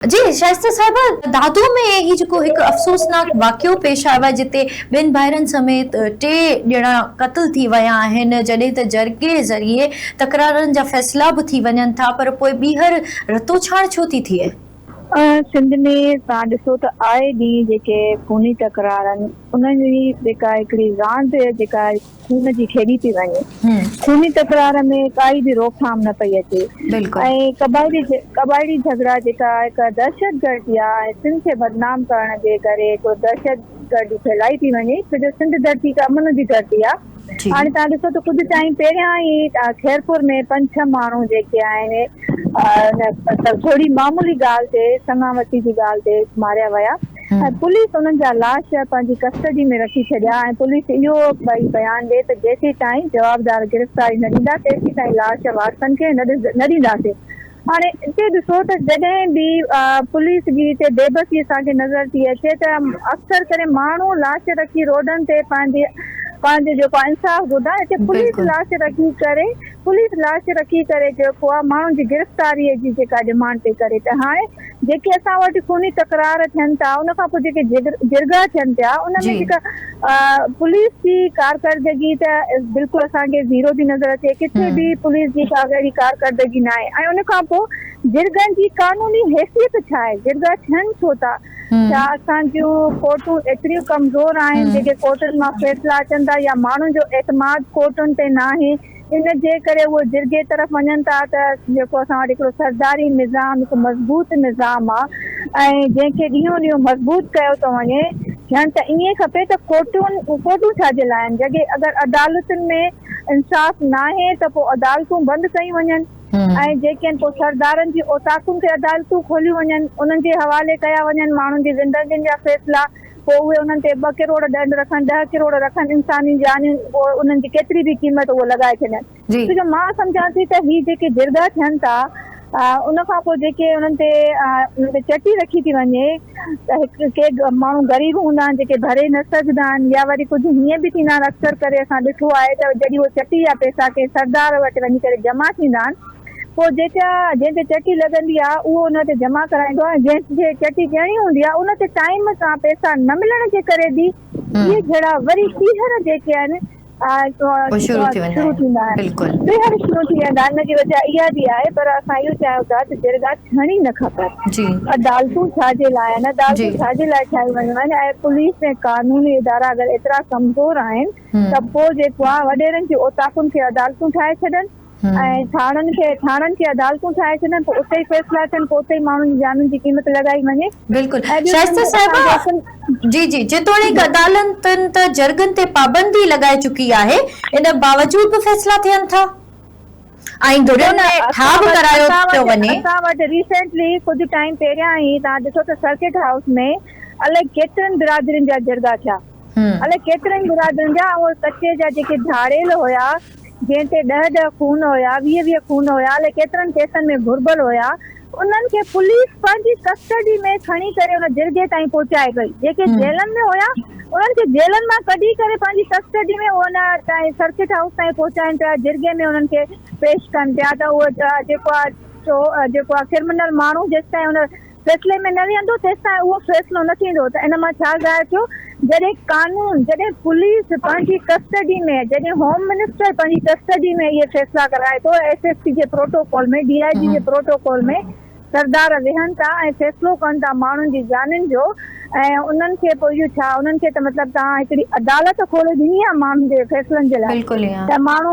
جي شائسته صاحب، دادوء ۾ هي جيڪو هڪ افسوسناڪ واقعو پيش آيو آهي جتي ٻن ڀائرن سميت ٽي ڄڻا قتل ٿي ويا آهن، جڏهن ته جرڳي ذريعي تڪرارن جا فيصلا به ٿي وڃن ٿا پر پوء ٻيهر رتوڇاڻ ڇو ٿي ٿئي؟ سنڌ ۾ توهان ڏسو ته آئي ڏينهن جيڪي خوني تڪرارن انهن جي جيڪا هڪڙي راند جيڪا خون جي کيڏي پئي وڃي، خوني تڪرار ۾ ڪائي به روڪٿام نه پئي اچي ۽ قبائلي جهڳڙا جيڪا هڪ دهشتگرد يا ۽ سنڌ کي بدنام ڪرڻ جي ڪري هڪڙو دهشتگردي ڦهلائي پئي وڃي ڇو جو سنڌ ڌرتي هڪ امن جي ڌرتي آ هاڻي تهان ڏسو ته ڪجهه ٽائيم پهريان ئي خيرپور ۾ پنج ڇهه ماڻهو جيڪي آهن ان ٿوري معمولي ڳالهه تي سڱا وتي جي ڳالهه تي ماريا ويا. ۽ پوليس انهن جا لاش پنهنجي ڪسٽڊي ۾ رکي ڇڏيا ۽ پوليس اهو به بيان ڏي ته جيسيتائين جوابدار گرفتاري نه ڏيندا تيسيتائين لاش وارثن کي نه ڏينداسين هاڻي هتي ڏسو ته جڏهن به پوليس جي هتي بيبسي اسان کي نظر ٿي اچي ته اڪثر ڪري ماڻهو لاش رکي روڊن تي پنهنجي پنهنجو جيڪو آهي انصاف گهردا هتي پوليس لاش رکي ڪري پوليس لاش رکي ڪري جيڪو آهي ماڻهن جي گرفتاري جي جيڪا ڊمانڊ پئي ڪري ته هاڻي جيڪي اسان وٽ خوني تڪرار ٿين ٿا ان کان پوء جيڪي جرڳا ٿين پيا ان ۾ جيڪا پوليس جي ڪارڪردگي ته بلڪل اسان کي زيرو ٿي نظر اچي ڪٿي به پوليس جي ڪا اهڙي ڪارڪردگي ناهي ۽ ان کان پوء جرڳن جي قانوني حيثيت ڇا آهي جرڳا ٿين ڇو ٿا ڇا اسان جون ڪورٽون ايتريون ڪمزور آهن جيڪي ڪورٽن مان فيصلا اچن ٿا يا ماڻهن جو اعتماد ڪورٽن تي ناهي ان جي ڪري اهي جرڳي طرف وڃن ٿا ته جيڪو اسان وٽ هڪڙو سرداري نظام هڪ مضبوط نظام آ ۽ جنهن کي ڏينهون ڏينهون مضبوط ڪيو ٿو وڃي ٿيڻ ته ائين کپي ته ڪورٽون ڪورٽون ڇا جي لاء آهن جڏهن اگر عدالتن ۾ انصاف ناهي ته پوء عدالتون بند ڪيون وڃن ۽ جيڪي آهن پوء سردارن جي اوطاقن تي عدالتون کوليون وڃن انهن جي حوالي ڪيا وڃن ماڻهن جي زندگين جا فيصلا پوء اهي انهن تي ٻه ڪروڙ ڏنڊ رکن، ڏهه ڪروڙ رکن انساني جانيون پوء انهن جي ڪيتري به قيمت اهو لڳائي ڇڏين. ڇو جو مان سمجهان ٿي ته هي جيڪي جرڳا ٿين ٿا ان کان پوء جيڪي انهن تي انهن تي چٽي رکي ٿي وڃي ته هڪ ڪي ماڻهو غريب هوندا آهن جيڪي ڀري نه سگهندا آهن يا وري ڪجهه هيئن به ٿيندا آهن اڪثر ڪري اسان ڏٺو آهي ته جڏهن اهي چٽي يا پئسا ڪنهن سردار وٽ وڃي ڪري جمع ٿيندا آهن پوء جيڪا جنهن تي چٽي لڳندي آ اهو ان تي جمع ڪرائيندو آ ۽ جنهن کي چٽي ڏيڻي هوندي آ ان تي ٽائيم سان پئسا نه ملڻ جي ڪري به اهي جھڙا وري ٻيهر جيڪي آهن شروع ٿي ويندا آهن ٻيهر شروع ٿي ويندا آهن ان جي وجه اها به آهي پر اسان اهو چاهيون ٿا ته جرڳا ٿيڻي نه کپن عدالتون ڇا جي لاء آهن عدالتون ڇا جي لاء ٺاهيون ويون آهن ۽ پوليس ۽ قانوني ادارا اگر ايترا ڪمزور آهن ته پوء جيڪو آ وڏيرن جي اوطاقن کي عدالتون ٺاهي ڇڏن ۽ ٿاڻن کي ٿاڻن کي عدالتون ٺاهي ڇڏن ته اتي ئي فيصلا ٿين پوء اتي ئي ماڻهن جي جانن جي قيمت لڳائي وڃي. بلڪل شائسته صاحبه جي جي جيتوڻيڪ عدالتن ته جرڳن تي پابندي لڳائي چڪي آهي ان باوجود به فيصلا ٿين ٿا ۽ ڌرين ۾ ٺاهه به ڪرايو پيو وڃي. اسان وٽ ريسينٽلي ڪجهه ٽائيم پهريان ئي توهان ڏسو ته سرڪٽ هائوس ۾ الائي ڪيترين برادرين جا جرڳا ٿيا الائي ڪيترين برادرين جا ۽ اهي ڪچي جا جيڪي ڌاڙيل هيا جنهن تي ڏهه ڏهه خون هيا، ويهه ويهه خون هيا الائي ڪيترن ڪيسن ۾ گهربل هيا، انهن کي پوليس پنهنجي ڪسٽڊي ۾ کڻي ڪري ان جرڳي تائين پهچائي پئي، جيڪي جيلن ۾ هيا انهن کي جيلن مان ڪڍي ڪري پنهنجي ڪسٽڊي ۾ ان تائين سرڪٽ هائوس تائين پهچائين پيا، جرڳي ۾ انهن کي پيش ڪن پيا ته اهو جيڪو آ چو جيڪو آ ڪرمنل ماڻهو جيستائين ان فيصلي ۾ نه ويهندو تيستائين اهو فيصلو نه ٿيندو ته ان مان ڇا ظاهر ٿيو جڏهن قانون جڏهن پوليس پنهنجي ڪسٽڊي ۾ جڏهن هوم منسٽر پنهنجي ڪسٽڊي ۾ اهي فيصلا ڪرائي ٿو ايس ايس پي جي پروٽوڪول ۾ ڊي آء جي جي پروٽوڪول ۾ سردار ويهن ٿا ۽ فيصلو ڪن ٿا ماڻهن جي جانين جو ۽ انهن کي پوء اهو ڇا انهن کي ته مطلب توهان هڪڙي عدالت کولي ڏني آهي ماڻهن جي فيصلن جي لاء بلڪل ايئن. ته ماڻهو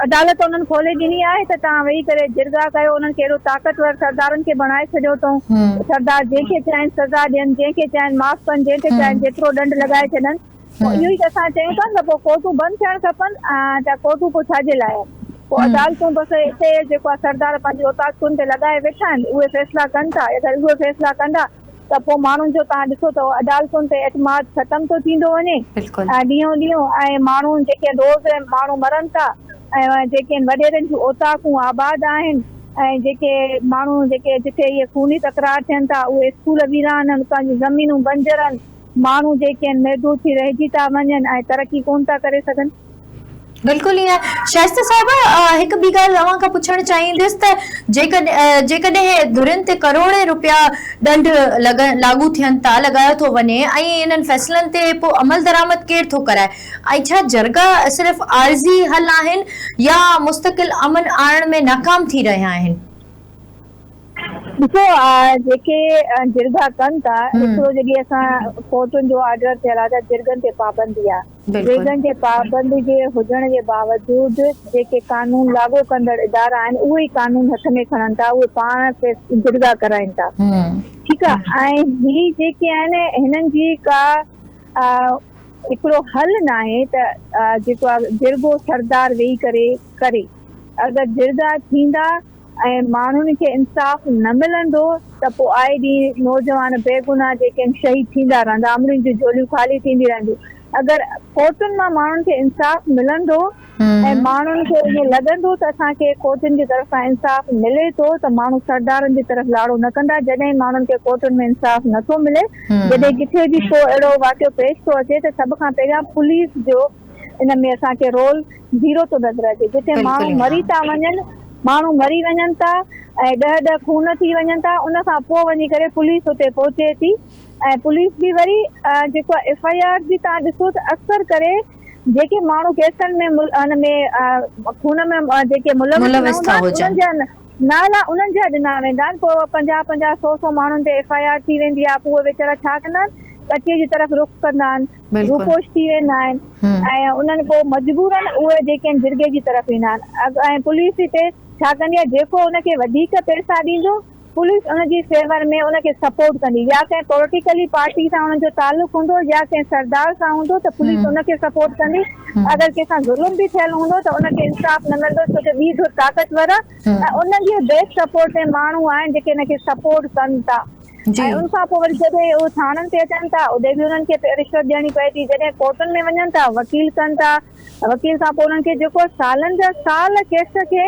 عدالت انهن کولي ڏني آهي ته توهان ويهي ڪري جرڳا ڪيو انهن کي اهڙو طاقتور سردارن کي بڻائي ڇڏيو اٿئون ته سردار جنهن کي چاهين سزا ڏين جنهن کي چاهين معاف ڪن جنهن تي چاهين جيترو ڏنڊ لڳائي ڇڏن پوء اهو ئي ته اسان چيون ٿا نه ته پوء ڪورٽون بند ٿيڻ کپن ته ڪورٽون پوء ڇا جي لاء آهن پوء عدالتون بس اتي جيڪو آهي سردار پنهنجي اوطاقتن تي لڳائي ويٺا آهن اهي فيصلا ڪن ٿا اگر اهي فيصلا ڪندا ته پوء ماڻهن جو تان ڏسو ته عدالتن تي اعتماد ختم ٿو ٿيندو وڃي بلڪل. ڏينهون ڏينهون ۽ ماڻهون جيڪي روز ماڻهون مرن ٿا ۽ جيڪي وڏيرن جون اوطاقون آباد آهن ۽ جيڪي ماڻهون جيڪي جتي اهي خوني تڪرار ٿين ٿا اهي اسڪول ويران ان اتان جون زمينون بنجر ان ماڻهون جيڪي ان محدود ٿي رهجي ٿا وڃن ۽ ترقي ڪونه ٿا ڪري سگهن. بلڪل ائين شائسته صاحب هڪ ٻي ڳالهه اوهان کان پڇڻ چاهيندس ته جيڪڏهن ڌرين تي ڪروڙين روپيا ڏنڊ لاڳو ٿين ٿا لڳايو ٿو وڃي ۽ انهن فيصلن تي پوء عملدرآمد ڪير ٿو ڪرائي ۽ ڇا جرڳا صرف عارضي حل آهن يا مستقل امن آڻڻ ۾ ناڪام ٿي رهيا آهن. ڏسو جيڪي جرڳا ڪن ٿا هڪڙو جيڪي اسان ڪورٽن جو آرڊر ٿيل آهي ته جرڳن تي پابندي آهي بلڪل. ويڳن جي پابندي جي هجڻ جي باوجود جيڪي قانون لاڳو ڪندڙ ادارا آهن اهي ئي قانون هٿ ۾ کڻن ٿا اهي پاڻ ڪيس جرڳا ڪرائين ٿا ٺيڪ آ ۽ هي جيڪي آهن هنن جي ڪا هڪڙو حل ناهي ته جيڪو آ جرڳو سردار ويهي ڪري ڪري اگر جرڳا ٿيندا ۽ ماڻهن کي انصاف نه ملندو ته پوء آئي ڏينهن نوجوان بيگناهه جيڪين شهيد ٿيندا رهندا امڙين جون جهوليون خالي ٿيندي رهنديون اگر ڪورٽن مان ماڻهن کي انصاف ملندو ۽ ماڻهن کي ائين لڳندو ته اسان کي ڪورٽن جي طرف کان انصاف ملي ٿو ته ماڻهو سردارن جي طرف لاڙو نه ڪندا جڏهن ماڻهن کي ڪورٽن ۾ انصاف نه ٿو ملي جڏهن ڪٿي به ڪو اهڙو واقعو پيش ٿو اچي ته سڀ کان پهريان پوليس جو ان ۾ اسان کي رول زيرو ٿو نظر اچي جتي ماڻهو مري ٿا وڃن ماڻهو مري وڃن ٿا ۽ ڏهه ڏهه خون ٿي وڃن ٿا ان کان پوء وڃي ڪري پوليس اتي پهچي ٿي ۽ پوليس به وري جيڪو آهي ايف آئي آر جي تان ڏسو ته اڪثر ڪري جيڪي ماڻهو ڪيسن ۾ ان ۾ خون ۾ جيڪي ملوث نه هوندا آهن انهن جا نالا انهن جا ڏنا ويندا آهن پوء پنجاهه پنجاهه سو سو ماڻهن تي ايف آئي آر ٿي ويندي آهي پوء ويچارا ڇا ڪندا آهن ڪچي جي طرف رخ ڪندا آهن روپوش ٿي ويندا آهن ۽ انهن پوء مجبوراً اهي جيڪين جرڳي جي طرف ايندا آهن ۽ پوليس هتي ڇا ڪندي آهي جيڪو ان کي وڌيڪ پئسا ڏيندو پوليس ان جي فيور ۾ ان کي سپورٽ ڪندي يا ڪنهن پوليٽيڪلي پارٽي سان انهن جو تعلق هوندو يا ڪنهن سردار سان هوندو ته پوليس ان کي سپورٽ ڪندي اگر ڪنهن سان ظلم به ٿيل هوندو ته ان کي انصاف نه ملندو ڇو جو ٻي ڌر طاقتور آهي ۽ انهن جي بيڪ سپورٽ ۾ ماڻهو آهن جيڪي ان کي سپورٽ ڪن ٿا. ۽ ان کان پوء وري جڏهن اهي ٿاڻن تي اچن ٿا ادي به انهن کي رشوت ڏيڻي پئي ٿي جڏهن ڪورٽن ۾ وڃن ٿا وڪيل ڪن ٿا وڪيل کان پوء انهن کي جيڪو سالن جا سال ڪيس کي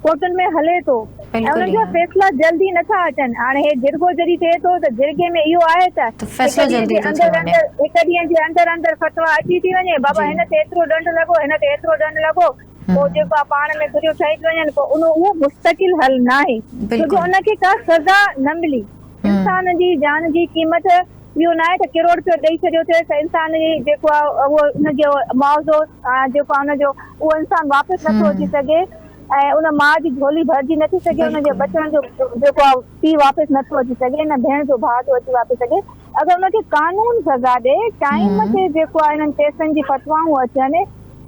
ڪورٽن ۾ هلي ٿو ۽ انهن جا فيصلا جلدي نه ٿا اچن هاڻي هي جرڳو جڏهن ٿئي ٿو ته جرڳي ۾ اهو آهي ته هڪ ڏينهن جي اندر اندر هڪ ڏينهن جي اندر اندر فتويٰ اچي ٿي وڃي بابا هن تي ايترو ڏنڊ لڳو هن تي ايترو ڏنڊ لڳو. پوء جيڪو آ پاڻ ۾ گهريون ٺهي ٿيون وڃن پوء انهو اهو مستقل حل ناهي ڇو جو ان کي ڪا سزا نه ملي انسان جي جان جي قيمت اهو ناهي ته ڪروڙپيو ڏئي ڇڏيو اٿيس ته انسان جي جيڪو آ اهو ان جو معاوضو جيڪو آ ان جو اهو انسان واپس نه ٿو اچي سگهي ۽ ان ماء جي جهولي ڀرجي نه ٿي سگهي ان جي ٻچڙن جو جيڪو آ پيء واپس نه ٿو اچي سگهي نه ڀيڻ جو ڀاء ٿو اچي واپس سگهي اگر ان کي قانون سزا ڏئي، ٽائيم تي جيڪو آهي انهن ڪيسن جي فتوائون اچن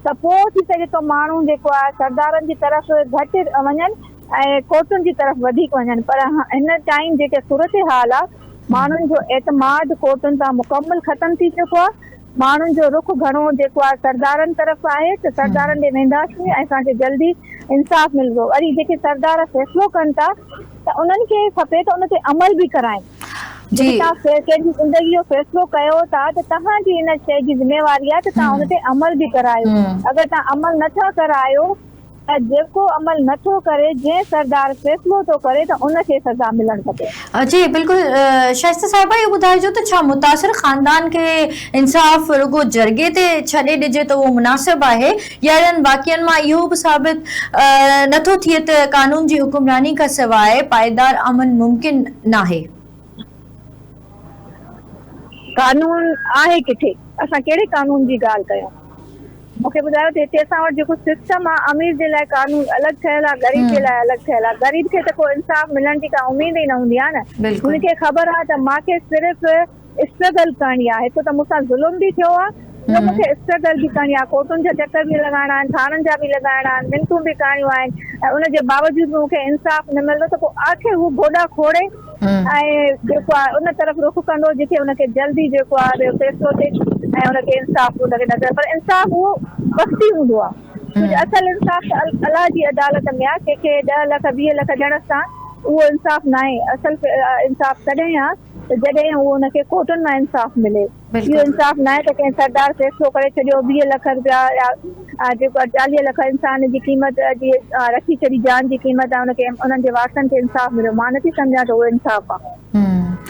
ته پوء ٿي سگهي ٿو ماڻهو جيڪو آهي سردارن جي طرف گهٽ وڃن ۽ ڪورٽن جي طرف وڌيڪ وڃن پر هن ٽائيم جيڪي صورتحال آهي ماڻهن جو اعتماد ڪورٽن تان مڪمل ختم ٿي چڪو آهي ماڻهن جو رخ گهڻو جيڪو آهي سردارن طرف آهي ته سردارن ڏي وينداسين ۽ اسان کي جلدي انصاف ملندو وري جيڪي سردار فيصلو ڪن ٿا ته انهن کي کپي ته ان تي عمل به ڪرائين. جيڪي توهان ڪنهن جي زندگي جو فيصلو ڪيو ٿا ته توهان جي ان شيء جي ذميواري آهي ته توهان ان تي عمل به ڪرايو. اگر توهان عمل نه ٿا ڪرايو ته جيڪو عمل نه ٿو ڪري، جنهن سردار فيصلو ٿو ڪري ته ان کي سزا ملڻ کپي. جي بلڪل شائسته صاحبه اهو ٻڌائجو ته ڇا متاثر خاندان کي انصاف رڳو جرڳي تي ڇڏي ڏجي ته اهو مناسب آهي؟ اهڙن واقعن مان اهو به ثابت نه ٿو ٿئي ته قانون جي حڪمراني کان سواء پائيدار امن ممڪن ناهي. قانون آهي ڪٿي؟ اسان ڪهڙي قانون جي ڳالهه ڪيون؟ مون کي ٻڌايو ته هتي اسان وٽ جيڪو سسٽم آهي، امير جي لاء قانون الڳ ٺهيل آهي، غريب جي لاء الڳ ٺهيل آهي. غريب کي ته ڪو انصاف ملڻ جي ڪا اميد ئي نه هوندي آهي نه. هن کي خبر آهي ته مان کي صرف. اسٽرگل ڪرڻي آ هڪ ته مون سان ظلم به ٿيو آ ٻيو مون کي اسٽرگل به ڪرڻي آ ڪورٽن جا چڪر به لڳائڻا آهن ٿاڻن جا به لڳائڻا آهن منتون به ڪرڻيون آهن ۽ ان جي باوجود به مون کي انصاف نه ملندو ته پو آخر هو گوڏا کوڙي ۽ جيڪو آ ان طرف رخ ڪندو جتي ان کي جلدي جيڪو آ فيصلو ٿئي ۽ ان کي انصاف ان کي نظر پر انصاف اهو وقتي هوندو آ ڪجهه اصل انصاف ته الله جي عدالت ۾ آ ڪنهن کي ڏهه لک ويهه لک ڏيڻ سان اهو انصاف ناهي اصل انصاف تڏهن آ ته جڏهن اهو ان کي ڪوٽن مان انصاف ملي. اهو انصاف ناهي ته ڪنهن سردار فيصلو ڪري ڇڏيو ويهه لک رپيا يا جيڪو آهي چاليهه لک انسان جي قيمت جي رکي ڇڏي جان جي قيمت آهي ان کي انهن جي وارثن کي انصاف مليو مان نٿي سمجهان ته اهو انصاف آهي.